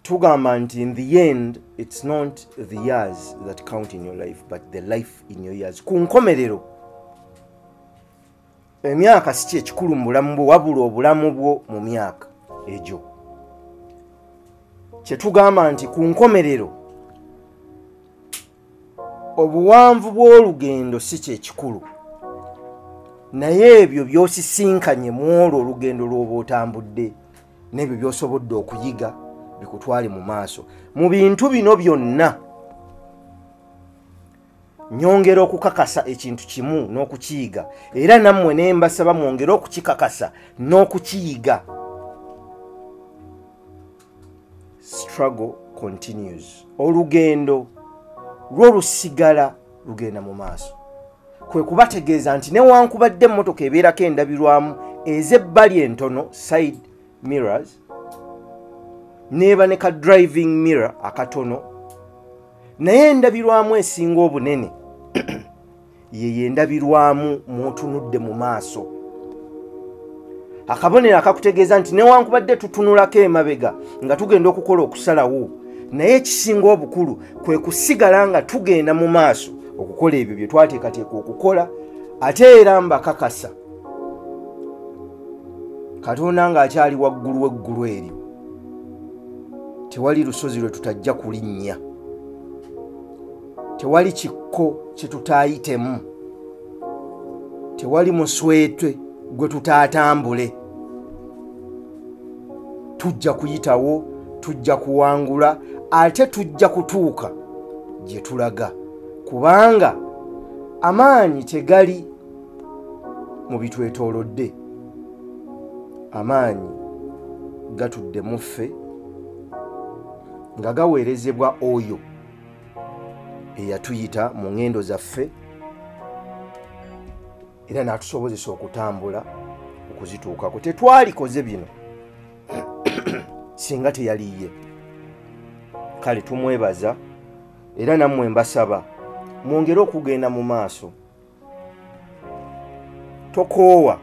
tugamba nti in the end it's not the years that count in your life but the life in your years ku nkomerero emyaka si kyekikulu mu bulamu bwo wabula obulamu bwo mu myaka egyo kyetugamba nti ku nkomerero obuwanvu bw'olugendo si kyekikulu naye ebyo byosisinkanye mu olwo olugendo lw'oba otambudde n'ebyo byosobodde okuyiga bikutwale mu maaso mu bintu bino byonna nyongera okukakasa ekintu kimu n'okukiyiga era nammwe ne mbasaba mwongere okukikakasa n'okukiyiga struggle continues olugendo lwo lusigala lugenda mu maaso kwe kubategeeza nti newankubadde emmotoka ebeerako endabirwamu ez'ebbali entono side mirrors neeba ne ka driving mirror akatono naye endabirwamu esinga obunene yeyo endabirwamu mwotunudde mu maaso akabonero akakutegeeza nti newankubadde tutunulako emabega nga tugenda okukola okusalawo naye ekisinga obukulu kwe kusigala nga tugenda mu maaso okukola ebyo bye twateekateeka okukola ate era mbakakasa katonda ng'akyali waggulu w'eggulu eryo tewali lusozi lwe tutajja kulinnya tewali kikko kyetutaayitemu tewali muswetwe gwe tutaatambule tujja kuyitawo tujja kuwangula ate tujja kutuuka gye tulaga kubanga amaanyi tegali mu bitwetoolodde amaanyi gatudde muffe nga gaweerezebwa oyo eyatuyita mu ŋŋendo zaffe era n'atusobozesa okutambula okuzituukako tetwalikoze bino singa teyaliye kale tumwebaza era nammwe mbasaba mwongere okugenda mu maaso tokoowa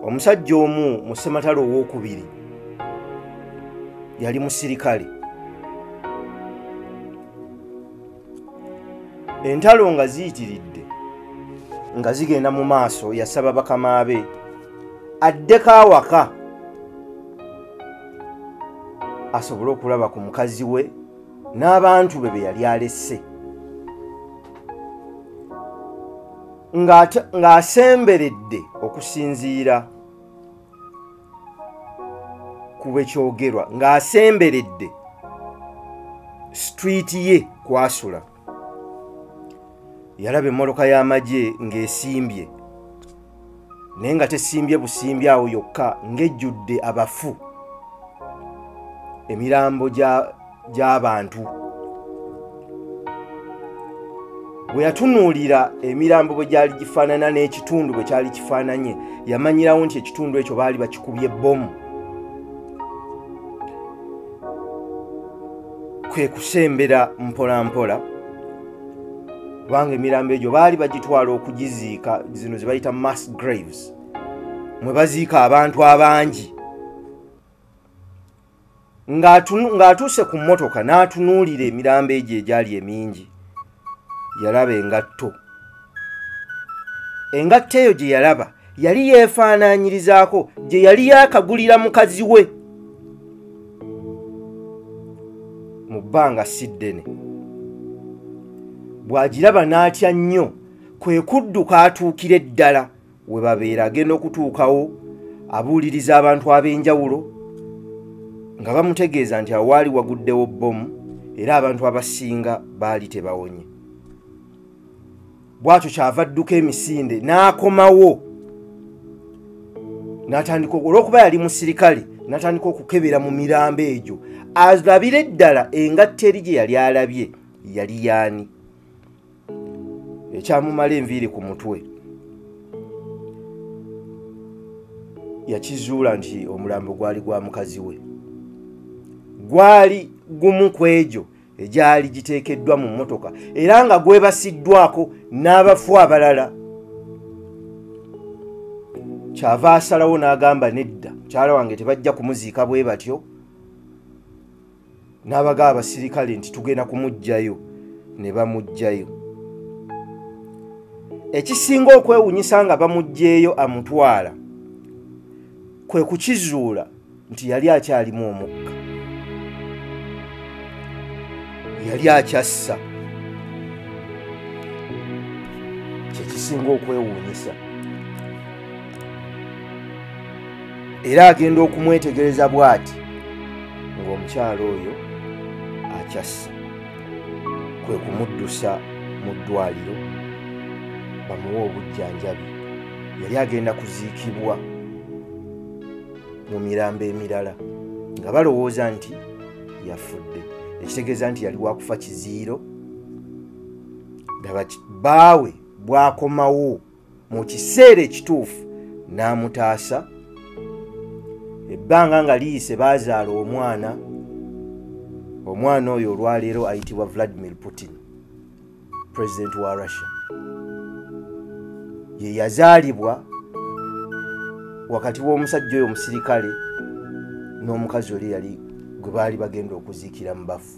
omusajja omu mu ssematale owokubiri yali musirikale entalo nga ziyitiridde nga zigenda mu maaso yasaba bakama be addeko awaka asobole okulaba ku mukazi we n'abantu be be yali alesse ng'asemberedde okusinziira ku bwe kyogerwa ng'asemberedde street ye kwasula yalaba emmotoka y'amagye ng'esimbye naye nga tesimbye busimbi awo yokka ng'ejjudde abafu emirambo gy'abantu bwe yatunuulira emirambo bwe gyali gifaanana n'ekitundu bwe kyali kifaananye yamanyirawo nti ekitundu ekyo baali bakikubye bbomu kwe kusembera mpolampola mpola. kubanga emirambo egyo baali bagitwala okugiziika zino ze bayita mass graves mwe baziika abantu abangi ng'atuuse ku mmotoka n'atunuulira emirambo egyo egyali emingi yalaba engatto engatto eyo gye yalaba yali yeefaanaanyirizaako gye yali yaakagulira mukazi we mu bbanga si ddene bw'agiraba n'atya nnyo kwe kudduka atuukire ddala we babeera agenda okutuukawo abuuliriza abantu ab'enjawulo nga bamutegeeza nti awaali waguddewo bbomu era abantu abasinga baali tebawonye bwatyo kyava dduka emisinde n'akomawo n'atandika olwokuba yali musirikale n'atandika okukebera mu mirambo egyo alabire eddala engatta eri gye yali alabye yali yaani ekyamumala enviiri ku mutwe yakizuula nti omulambo gwali gwa mukazi we gwali gumu ku egyo egyali giteekeddwa mu mmotoka era nga gwebasiddwako n'abafu abalala kyava asalawo n'agamba nedda mukyala wange tebajja kumuziika bwe batyo n'abaga abasirikale nti tugenda kumuggyayo ne bamuggyayo ekisinga okwewunyisa nga bamuggyeyo amutwala kwe kukizuula nti yali akyalimu omukka yali akyassa kyekisinga okwewuunyisa era agenda okumwetegereza bw'ati ng'omukyalo oyo akyassa kwe kumuddusa mu ddwaliro bamuwe obujjanjabi yali agenda kuziikibwa mu mirambo emirala nga balowooza nti yafudde ekitegeeza nti yali wakufa kiziiro daba baawe bwakomawo mu kiseera ekituufu n'amutaasa ebbanga nga liyise baazaala omwana omwana oyo olwaleero ayitibwa vladimir putin president wa russia ye yazaalibwa wakati w'omusajja oyo omusirikale n'omukazi oli yali gwe baali bagenda okuziikira mu bafu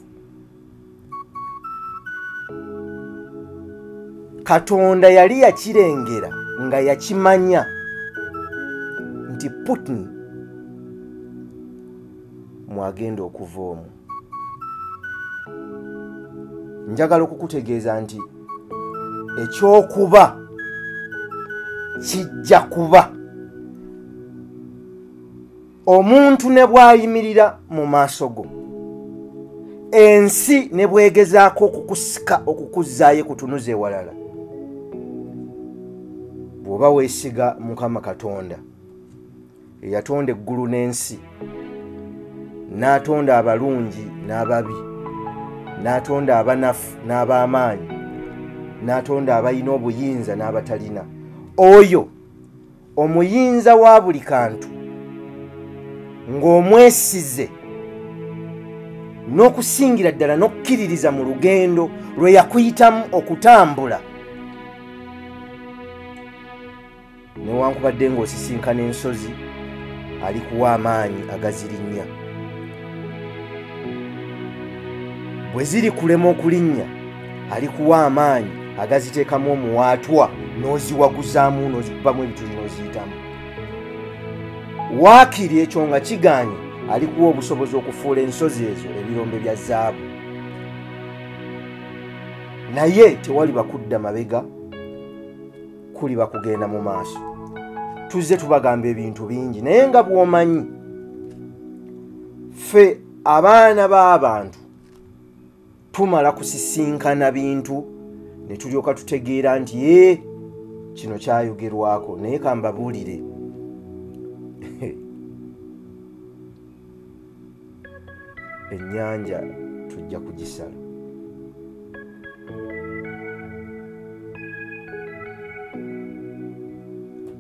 katonda yali yakirengera nga yakimanya nti putin mwagenda okuva omu njagala okukutegeeza nti ekyokuba kijja kuba omuntu ne bwayimirira mu maaso go ensi ne bwegezaako okukusika okukuzzaayo kutunuza ewalala bw'oba weesiga mukama katonda eyatonda eggulu n'ensi n'atonda abalungi n'ababi n'atonda abanafu n'ab'amaanyi n'atonda abalina obuyinza n'abatalina oyo omuyinza wa buli kantu ng'omwesize n'okusingira ddala n'okukkiririza mu lugendo lwe yakuyitamu okutambula newankubadde ng'osisinkana ensozi alikuwa amaanyi agazirinnya bwe ziri kulema okulinnya alikuwa amaanyi agaziteekamu omuwaatwa n'oziwaguzaamu n'ozikubamu ebituli n'oziyitamu waakiri ekyo nga kigaanye alikuwa obusobozi okufuula ensozi ezo ebirombe bya zaabu naye tewaliba kudda mabega kuli bakugenda mu maaso tuzze tubagamba ebintu bingi naye nga bwomanyi ffe abaana b'abantu tumala kusisinkana bintu ne tulyoka tutegeera nti ye kino kyayogerwako naye kambabuulire ennyanja tujja kugisala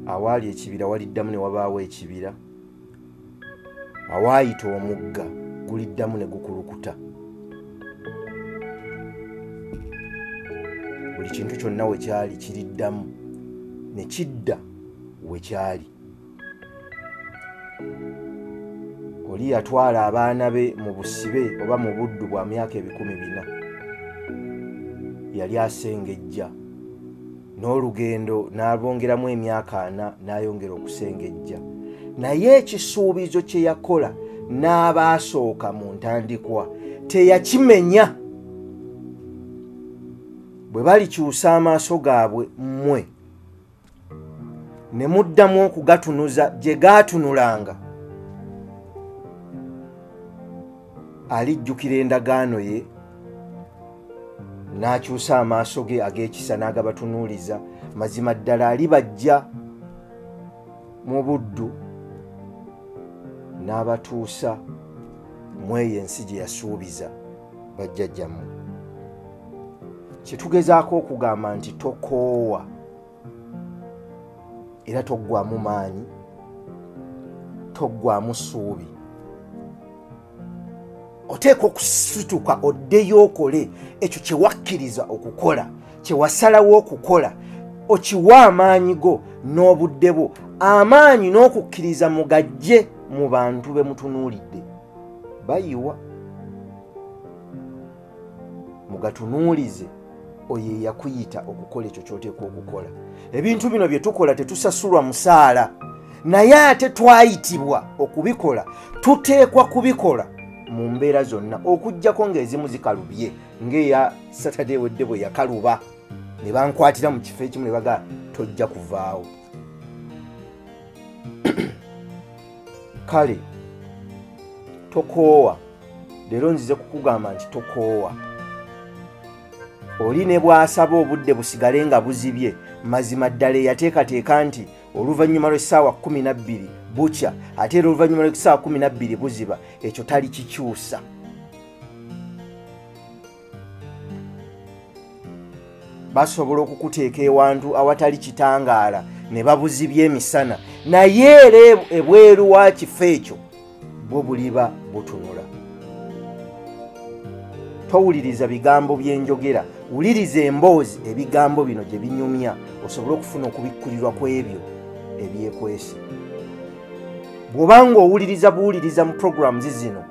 awaali ekibira waliddamu ne wabaawo ekibira awaayita omugga guliddamu ne gukulukuta buli kintu kyonna we kyali kiriddamu ne kidda we kyali oli yatwala abaana be mu busibe oba mu buddu bwa myaka ebikumi bina yali asengejja n'olugendo n'abongeramu emyaka ana n'ayongera okusengejja naye ekisuubizo kye yakola n'abaasooka mu ntandikwa teyakimenya bwe balikyusa amaaso gaabwe mmwe ne muddamu okugatunuza gye gaatunulanga alijjukira endagaano ye n'akyusa amaaso ge ag'ekisa n'agabatunuuliza mazima ddala alibajja mu buddu n'abatuusa mu eyo ensi gye yasuubiza bajjajjammwe kyetugezaako okugamba nti tokoowa era toggwamu maanyi toggwamu suubi oteeka okusituka oddeyo okole ekyo kyewakkiriza okukola kyewasalawo okukola okiwa amaanyi go n'obudde bwo amaanyi n'okukkiriza mugajje mu bantu be mutunuulidde bayiwa mugatunuulize oyo eyakuyita okukola ekyo kyoteekwa okukola ebintu bino bye tukola tetusasulwa musaala naye ate twayitibwa okubikola tuteekwa kubikola mu mbeera zonna okugyako ng'ezimu zikalubye ng'eya satade ewedde bwe yakaluba ne bankwatira mu kifo ekimu ne bagaa tojja kuvaawo kale tokoowa leero nzize kukugamba nti tokoowa oli ne bw'asaba obudde busigale nga buzibye mazima ddala eyateekateeka nti oluvannyuma lw'essaawa kumi na bbiri bukya ate era oluvannyuma lw'essaawa kumi na bbiri buziba ekyo talikikyusa basobola okukuteeka ewantu awatali kitangaala ne babuzibya emisana naye era ebweru wa kifo ekyo bwo buliba butunula towuliriza bigambo byenjogera wuliriza emboozi ebigambo bino gye binyumya osobole okufuna okubikkulirwa ku ebyo ebyekwesi bw'oba nga owuliriza buwuliriza mu programu zizino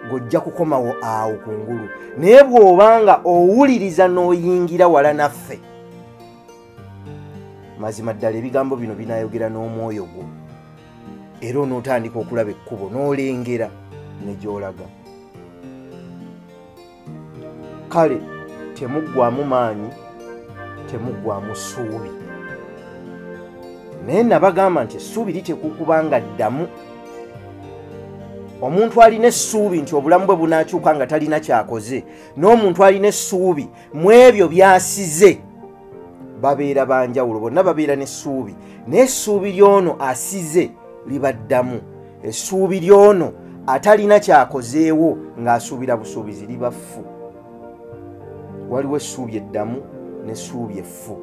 ng'ojja kukomawo awo ku ngulu naye bw'oba nga owuliriza n'oyingira wala naffe mazima ddala ebigambo bino binayogera n'omwoyo gwo era onootandika okulaba ekkubo n'olengera ne gy'olaga kale temuggwamu maanyi temuggwamu ssuubi naye nabagamba nti essuubi litekukuba nga ddamu omuntu alina essuubi nti obulamu bwe bunaakyuka nga talina kyakoze n'omuntu alina essuubi mu ebyo byasize babeera banjawulo bonna babeera n'essuubi naye essuubi ly'ono asize libaddamu essuubi ly'ono atalina kyakozeewo ng'asuubira busuubizi libaffu waliwo essuubi eddamu n'essuubi effu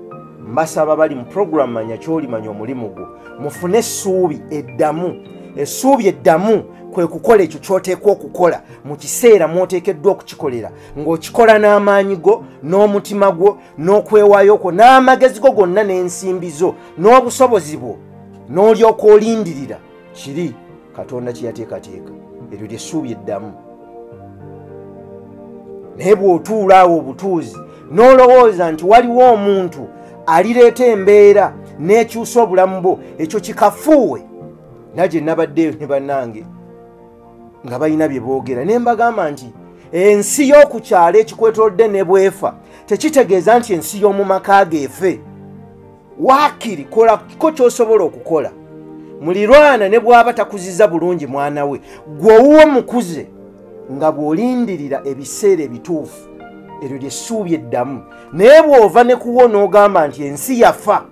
mbasaba bali mu puroguramu manya kyolimanya omulimu gwo mufune essuubi eddamu essuubi eddamu kwe kukola ekyo kyoteekwa okukola mu kiseera mwoteekeddwa okukikolera ng'okikola n'amaanyi go n'omutima gwo n'okwewayo kwo n'amagezi go gonna n'ensimbi zo n'obusobozi bwo n'olyoka olindirira kiri katonda kyeyateekateeka eryo lyessuubi eddamu naye bw'otuula awo obutuuzi n'olowooza nti waliwo omuntu alireeta embeera n'ekyusa obulamu bwo ekyo kikafuuwe naye gye nabaddeyo ne bannange nga balina bye boogera ne mbagamba nti ensi y'oku kyalo ekikwetolodde ne bwefa tekitegeeza nti ensi y'omu maka geefe waakiri kolako ky'osobola okukola mulirwana ne bw'aba takuziza bulungi mwana we gwe owuwo mukuze nga bw'olindirira ebiseera ebituufu eryo lyessuubi eddamu naye bw'ova ne kuwo n'ogamba nti ensi yafa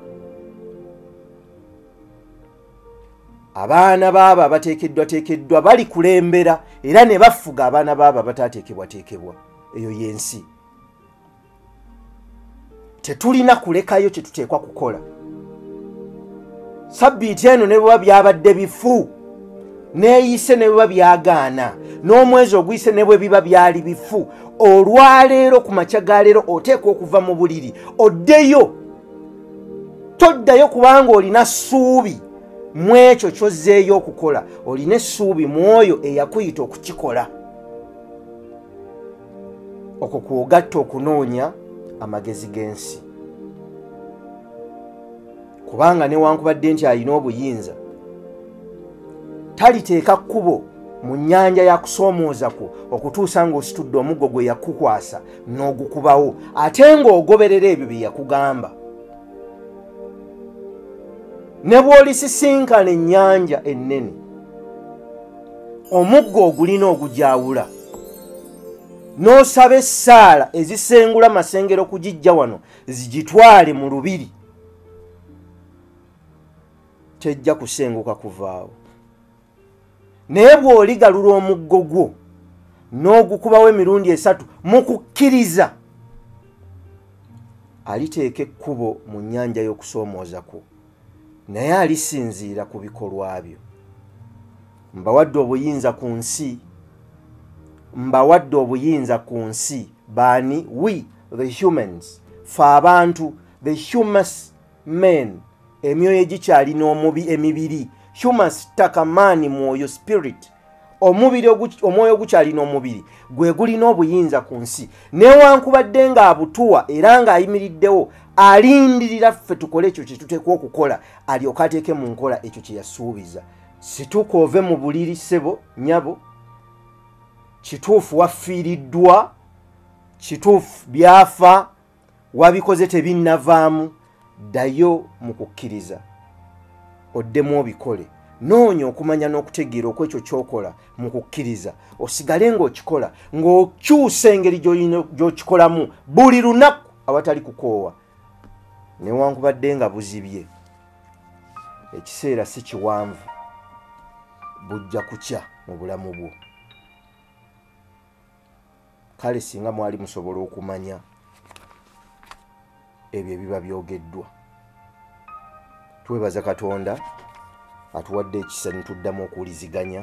abaana baabo abateekeddwateekeddwa bali kulembera era ne bafuga abaana baabo abataateekebwateekebwa eyo y'ensi tetulina kulekayo kyetuteekwa kukola sabbiiti eno ne bweba byabadde bifu neeyise ne bweba byagaana n'omwezi oguyise ne bwe biba byali bifu olwaleero ku makya ga leero oteekwa okuva mu buliri oddeyo toddayo kubanga olina ssuubi mu ekyo kyozzeeyo okukola olina essuubi mu oyo eyakuyita okukikola okwo kwogatta okunoonya amagezi g'ensi kubanga newankubadde nti alina obuyinza taliteeka kkubo mu nyanja yakusoomooza kwo okutuusa ng'ositudde omuggo gwe yakukwasa n'ogukubawo ate ng'ogoberera ebyo bye yakugamba ne bw'olisisinkana ennyanja ennene omuggo ogulina ogugyawula n'osaba essaala ezisengula masengero kugijja wano zigitwale mu lubiri tejja kusenguka kuvaawo naye bw'oligalula omuggo gwo n'ogukubawo emirundi esatu mu kukkiriza aliteeka ekkubo mu nnyanja y'okusoomooza kwo naye alisinziira ku bikolwa byo mbawadde obuyinza ku nsi mbawadde obuyinza ku nsi baani we the humans fe abantu the humus men emyoyo egikyalina omubi emibiri humus ttaka maani mwoyo spirit omubiri omwoyo ogukyalina omubiri gwe gulina obuyinza ku nsi newankubadde ng'abutuwa era ng'ayimiriddewo alindirira ffe tukole ekyo kyetuteekwa okukola alyoka ateeke mu nkola ekyo kye yasuubiza situka ove mu buliri ssebo nyabo kituufu wafiiriddwa kituufu byafa wabikoze tebinnavaamu ddayo mu kukkiriza oddemu obikole noonya okumanya n'okutegeera okwekyo kyokola mu kukkiriza osigale ng'okikola ng'okyusa engeri gy'okikolamu buli lunaku awatali kukoowa newankubadde nga buzibye ekiseera si kiwanvu bujja kukya mu bulamu bwo kale singa mwali musobola okumanya ebyo ebiba byogeddwa twebaza katonda atuwadde ekisa nituddamu okuwuliziganya